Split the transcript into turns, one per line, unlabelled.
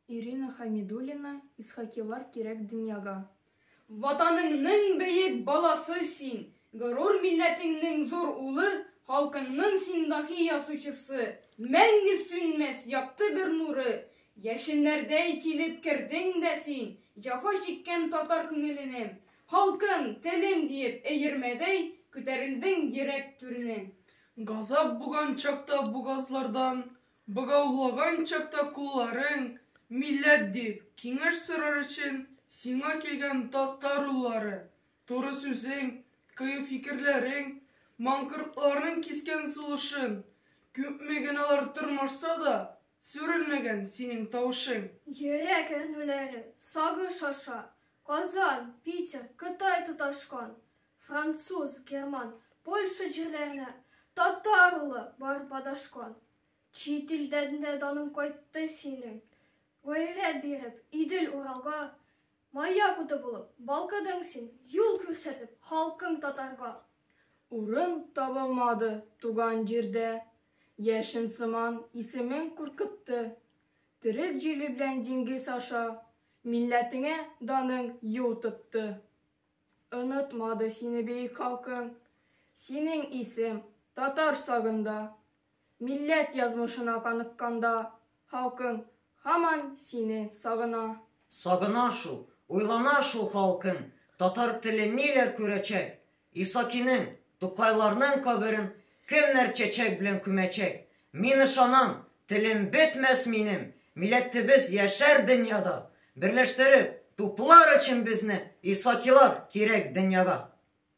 Ирина Хамидуллина Исхакилар кирәк дөньяга. Ватаныңның
бөек баласы син, горур милләтеңнең зур улы, халкыңның син даһи ясучысы, мәңге сүнмәс якты бер нуры. Яшеннәрдәй килеп кердең дә син, җафа чиккән татар күңеленә. Халкым, телем диеп, эермәдәй, күтәрелдең йөрәк түренә. Газап
буган чакта бугазлардан, Богаулаган чакта кулларың, милләт дип, киңәш сорар өчен сиңа килгән татар уллары, туры сүзең, кыю фикерләрең, маңкортларның кискен сулышын, күпме геналар тырмашса да, сүрелмәгән синең тавышың. Йөрәк
әрнүләре, сагыш аша, Казан, Питер, Кытай тоташкан, Француз, герман, Польша җирләренә татар улы барып адашкан. Чит илдән дә даның кайтты синең. Гайрәт биреп, Идел Уралга маяк уты булып балкыдың син, юл күрсәтеп халкың татарга. Урын
табылмады туган җирдә, яшен сыман исемең куркытты. Терек җиле белән диңгез аша милләтеңә даның юл тотты. Онытмады сине бөек халкың, Синең исем татар сагында. Милләт язмышына каныкканда, Халкың һаман сине сагына. Сагына шул,
уйлана шул халкың, Татар теле ниләр күрәчәк? Исакинең, Тукайларның каберен Кемнәр чәчәк белән күмәчәк? Мин ышанам, телем бетмәс минем, миләтебез яшәр дөньяда, берләштереп, туплар өчен безне, Исакилар, кирәк дөньяга.